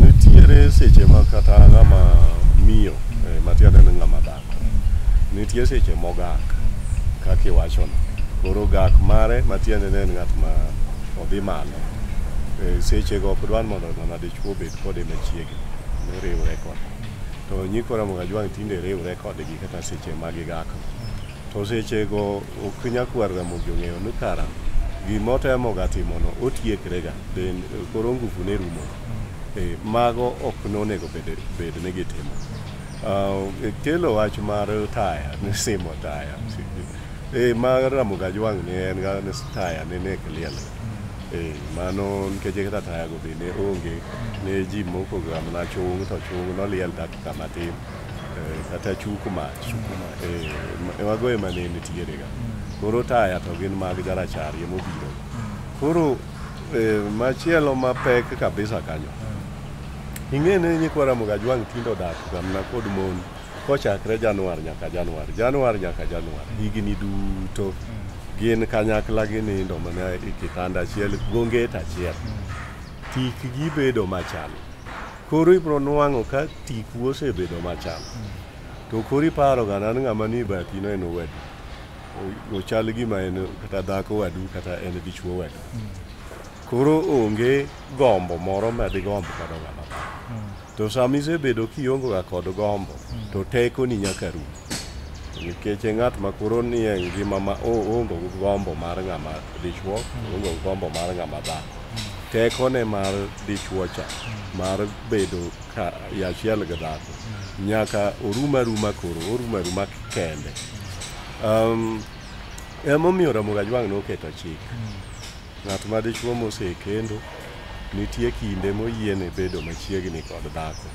nitiere seche ma kata ng'ama miyo eh, matiende ni ng'ama dhako nitie seche mogak kaka iwachono koro gak mare matiende ni en ng'at ma odhi malo Eh, sechego ok dwan mondo ng'ama dichwo obed kode machiegni noriwre kode to nyikora mokajwang' tinde riwre kodgi kata seche ma gigako To sechego ok nyakwarga mogi ong'eyo ni kara gima otemoga timono otiekrega then koro nguvu ne rumo Eh, mago ok nonego bed- bed ni gitimo Ah, eh, kelo wach mar taya ni simo taya Eh, ma ramoga jwang' ni en ga ni taya ni nek liel Eh, mano nikech kata tayago be ne onge ne ji mokoga mana chung' to chung' noliel dakika matin Eh, kata chuku mach Eh, ma- mago ema ne nitierega koro taya to gin mag jarachar ema obiro koro eh, machielo mapek kabisa kanyo ing'e ni nyikwa ramoga jwang' tinde odak gamna kod mon kochakre januar nyaka januar januar nyaka januar higni duto gin kanyakla ginindo mana e kitanda achiel gonget achiel tikgi bedo machal Koro ibiro nwang'o ka tiku osebedo machal. To koro iparoga nan ng'ama ni bathino en owadu. O- Ochal gima en kata dhako wadu kata en dichuo wadu. Koro onge gombo moro ma digomb kodo ng'ama dhako. To sama isebedo kiongoga kod gombo, to tekoni nyaka rum. nikech ng'at ma koro nie ngima ma oongo gi gombo mar ng'ama dichwo oongo gi gombo mar ng'ama dhako tekone mar dichwo cha mar bedo ka- e achiel gi dhako nyaka orum aruma koro orum aruma kende um, emomiyo ramogi ajwang' noketo chik ng'at ma dichwo mosekendo nitie kinde moyiene bedo machiegni kod dhako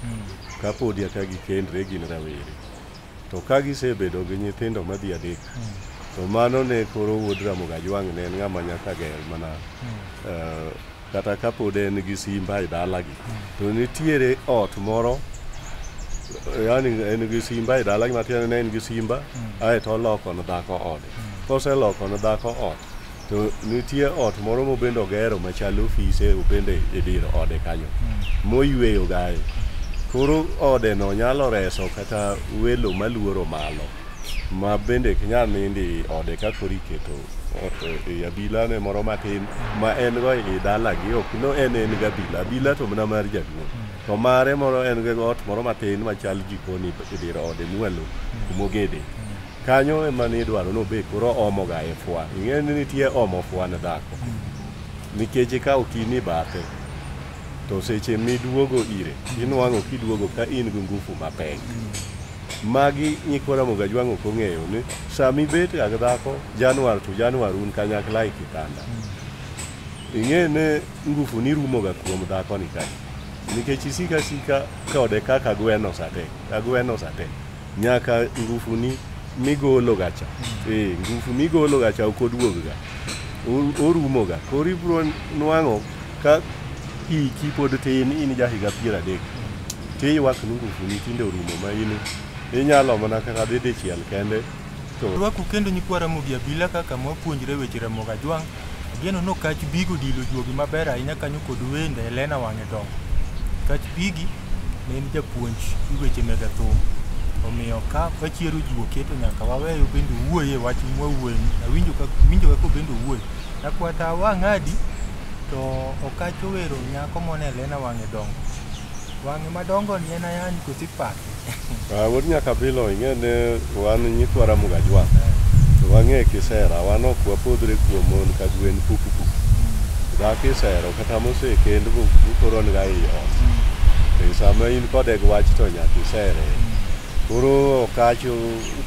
kapodi aka gikendre gin rawere to ka gisebedo gi nyithindo madhi adek to mano ne koro wuod Ramogi Ajwang' ne en ng'ama nyaka ger mana eh, kata kapod en gi simba e dalagi to nitiere ot moro yani en gi simba e dalagi matiende ne en gi simba aeto oloko ne dhako ode koseloko ne dhako ot to nitie ot moro mobende ogero machal ofise obende e dir ode kanyo moyweyo gaye koro odeno nyalo reso kata welo maluoro malo ma bende ok nyal nindi i ode ka koro iketo ot e abilane moro matin ma en go i dalagi ok no en en gabila abila to mana mar jaduong' to mare moro en go ot moro matin machal jikoni e dir ode mwalo kumogede Kanyo ema ne idwaro ni obed koro oomoga e fwa. Ing'eyo ni nitie omo fwa ne dhako. Nikech ikawo kini bathe, to seche miduogo ire, inwang'o kiduogo ka in gi ngufu mapek. Magi nyikwa Ramogi Ajwang' ok ong'eyo ni sama ibetga gi dhako Januar to Januar un kanyakla e kitanda. Ing'e ni ngufuni rumoga kuom dhakoni kae nikech isiko asika kode kaka gweno sate, agweno sate. Nyaka ngufuni migologa cha eh, ngufu migologa cha ok oduogga O- orumoga koro ibiro nwang'o ka hiki pod tin in ja higa piero adek tiywak ni ngufuni tinde orumo ma in inyalo mana kata dhi dichiel kende Rwaku kendo nyikwa Ramogi Abila kaka mwapuonjre weche Ramogi Ajwang'. Ageno no kach bigo dilo juogi maber ahinya kanyo kod wende Helena Wang'e Dongo. Kach bigi ne en japuonj i weche mega thum. Omiyo ka wachiero ji oketo nyaka waweyo bende wuoye wach mwawuoye. Awinjo ka winjo kako bende wuoye. Nakwata wang'adi to okacho wero nyako mone Helena Wang'e Dongo. Wang'e madongo ni en ayany kosipaka. Ah, Wuod Nyakabilo ing'e ni wan nyikwa Ramogi Ajwang'. To wang'e kisera, wan ok wapodhre kuom mon ka gwen puku puku. Dhako isero kata mosekend bu- bukoro niga ei ot. E sama in kode gi wach to nyaka isere. Koro ok achu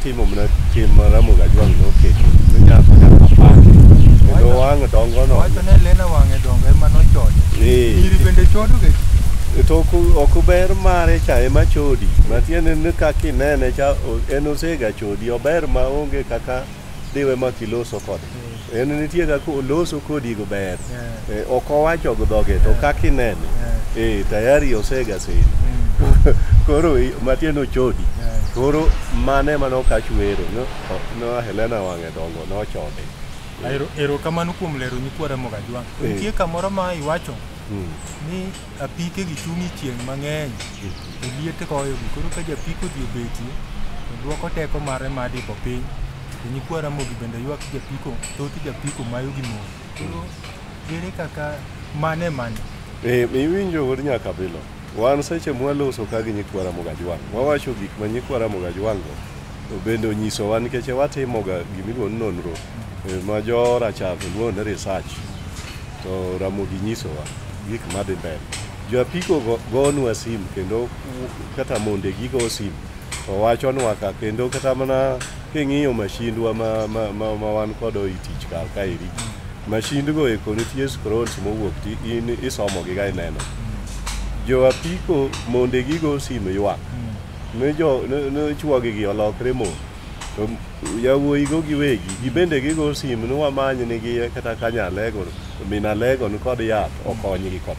Timo mana tim ma Ramogi Ajwang' noketo ne nyako nyaka pake kendo wang' dongo no. Wacho ne Lena wang'e dongo ema nochode. Ee. Nyiri bende chodo ga ji. To ok ok ber mare cha ema chodi. Matiende ni kaka inene cha o- en osega chodi ober ma onge kaka diwe ma kiloso kode. en nitie kaka oloso kodi go ber Eh, ok owacho gi dhoge to kaka inene eh, tayari osega seni koro i- matiende ochodi koro mane mane okach wero no, no Helena wang'e dongo nochode Ero- erokamano kuom lero nyikwa ramoga jwang Eh. nitie kamoro ma iwacho Mm. ni Apike gi chung' e chieng' mang'eny to liet goyogi koro ka japiko odhi obeti to dwoko teko mare mar diko piny to nyikwa Ramogi bende ywak japiko thoth japiko mayo gi mon koro ere kaka mane mane Eh, iwinjo wuod nyakabilo wan seche mwaloso ka gi nyikwa Ramogi Ajwang' wawacho gik ma nyikwa Ramogi Ajwang' go to bende onyisowa nikech watimoga gimiluongo ni nonro eh, ma jo rachar to luongo ni research To Ramogi nyisowa gik madhi mbele. Jo apiko go- gonwa sim kendo kata monde gigo sim to wachonwa ka kendo kata mana king'iyo mashindwa ma, ma, ma, ma wan kodo i tich kar kaeri mashindgo eko nitie scrolls mowuok ti in isomogi ga ineno jo apiko monde gigo sim ywak ne jo ne, ne chwogi gi olokre mo to Yawuoyigo giwegi gibende gigo sim ni wamany nigi kata ka nyalego min alego ni kod yath okonygi kod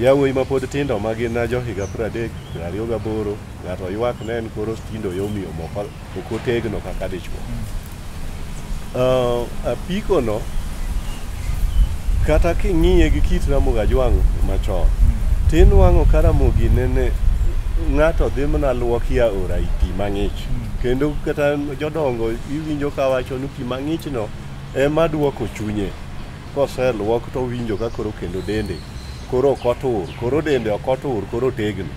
yawuoyi ma pod tindo ma gin jo higa pradek ariyo gaboro ng'ato ywak ne en koro tindo yomiyo moko ok otegno kaka dichwo apikono kata king'iye gi kit ramoga jwang' machon tinwang'o ka ramogi nene ng'ato dhi mana luoki aora i pi mang'ich kendo kata jodongo iwinjo ka wacho ni pi mang'ichno ema duoko chunye koseluok to owinjo ka koro kendo dende koro ok otur koro dende ok otur koro otegno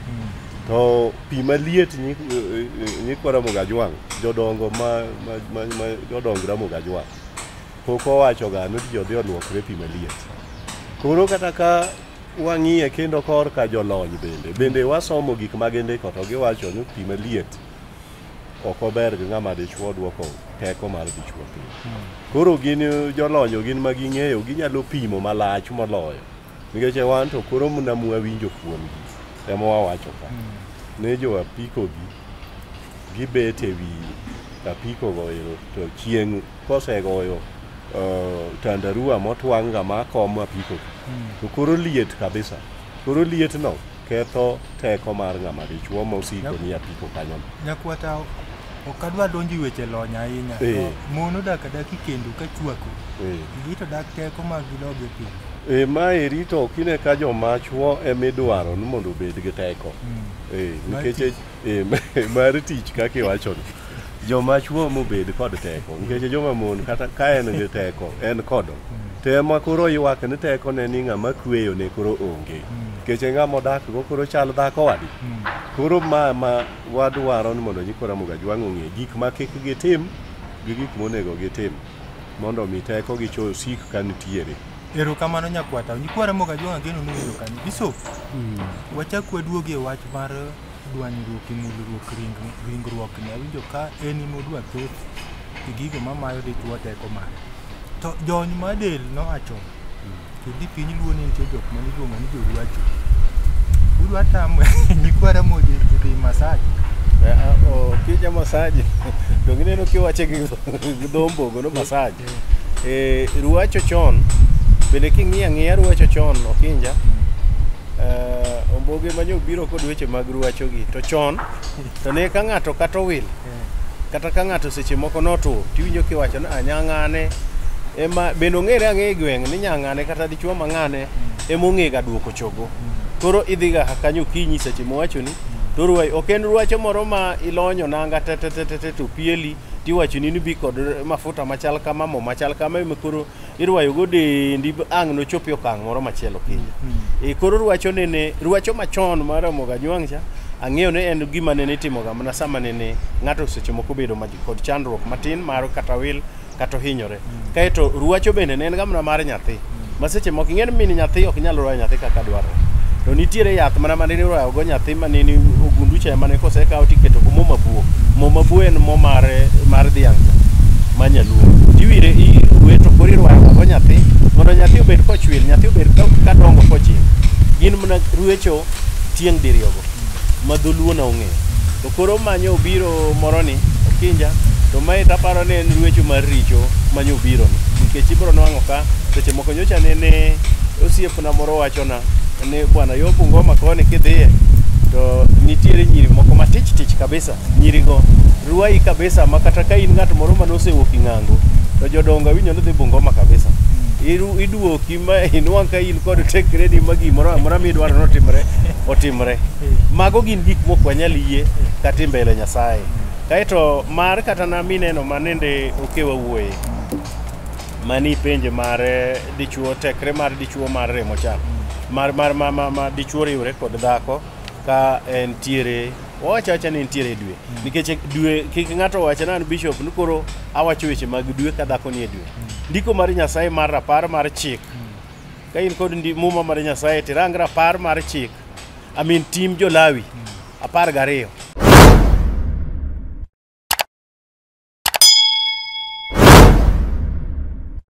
to pi maliet nyi- eh, eh, nyikwa ramogi ajwang' jodongo ma, ma, ma, ma jodong ramogi ajwang' pok owachoga ni ji odhi olwokre pi maliet koro kata ka Wang'iye kendo korka jolony bende. Bende wasomo gik ma gindiko to giwacho ni pi maliet ok ober gi ng'ama dichwo dwoko teko mar dichwo piny. Koro gin jolony gin ma ging'eyo ginyalo pimo malach moloyo. Nikech e wan to koro mna mwawinjo kuomgi ema wawacho ka. Ne jo apikogi gibet e wi apiko goero to chieng' kosegoyo uh, tandarua motwang' ga ma kom apiko to koro liet kabisa koro liet no ketho teko mar ng'ama dichuo mosiko ni apiko kanyo no. nyakwata ok adwa donjo e weche lony ahinya to Eh. mon odak adaki kendo ka chwako Eh. gi to dak teko mag gidog e piny e ma eri to kine ka joma chuo emidwaro ni mondo obed gi teko Mm. Eh, nikech eh, mar tich kaka iwachono joma chuo mobed kod teko nikech joma mon kata ka en gi teko en kodo to ema koro ywak ni teko ne ni ng'ama kweyo ne koro onge nikech e ng'ama odak go koro chal dhako wadi koro ma ma wadwaro ni mondo nyikora moga jwang' ong'e gik ma kik gitim gi gik monego gitim mondo mi teko gicho sik ka nitiere Erokamano nyakwata. Nyikwara moga jwang' ageno nowinjo kanyo. Bishop, mm. wachak waduogi e wach mar dwanyruok e mulruok ringruokni. Awinjo ka en ema odwa thoth e gigo mamayo dichwo teko mare. To jony ma del nowacho mm. kidhi piny luo ni nitie jok ma niluongo ni joruacho. Udwa tamo nyikwara moji dhi masaji. Eh, ah, oh, kija masaji. Dongineno kiwache gi dhombo gono masaji. Eh, ruacho chon bende king'iyo ang'iya ruacho chon okinja eh, omboge manye obiro kod weche mag ruachogi to chon to ne ka ng'ato kata owil kata ka ng'ato seche moko notur tiwinjo kiwacho ni "Ah, nyang'ane ema bende ong'ere ang'e e gweng' ni nyang'ane kata dichuo mang'ane ema ong'ega duoko chogo koro idhiga kanyo okinyi seche mowachoni to ruai ok en ruacho moro ma ilonyo nanga tetetetete to pieli tiwachoni ni bi kod mafuta machal kama mo machal kama ema koro irwayogo dendi ang' nochop e okang' moro machielo kiny e koro rwacho nene rwacho machon mar Ramogi Anywang' cha ang'eyo ni en gima nene itimoga mana sama nene ng'ato seche moko obedo ma- kod chandruok matin mar kata wil kata ohinyore Kaeto ruacho bende ne en ga mana mar nyathi. Ma seche moko ing'e ni min nyathi ok nyal royo nyathi kaka dwarore. To nitiere yath mana ma nene iroyo go nyathi ma nene ogundu cha mane kosekawo tiketo go mo mabuo. Mo mabuo en mo mar mar dhiang' cha ma nyaluo. Tiwire iruwe to koro irwayo go nyathi mondo nyathi obed kochwil, nyathi obed ka ka dongo kochil. Gin mana ruecho tieng' diriyo go ma dholuo na ong'eyo. To koro manyo obiro moroni okinja to mae taparo ni en ruecho mar richo manyo obironi nikech ibiro nwang'o ka seche moko nyocha nene osiepna moro wachona ni bwana yo Bungoma koni kidhiye to nitiere nyiri moko matich tich kabisa nyirigo ruai kabisa ma kata ka in ng'at moro mane osewuok ing'ango to jodongo awinjo ni dhi Bungoma kabisa Iru- iduoki ma inwang' ka in kod tekreni ma gimoro amora midwaro notimre otimre Mago gin gik mok wanyal yie kata mbele Nyasaye. Kaeto mar kata na mineno manende okewa wuoye mani penje mar dichuo tekre mar dichuo mar remo cha mar mar ma, ma, ma dichuo riwre kod dhako ka entiere owacho acha ni entiere dwe nikech dwe kik ng'ato wache nan bishop ni koro awacho weche mag dwe ka dhako nie dwe ndiko mar nyasaye mar rapar mar chik ka in kod ndi- muma mar nyasaye tirang rapar mar chik I mean tim jo-Lawi apar gariyo.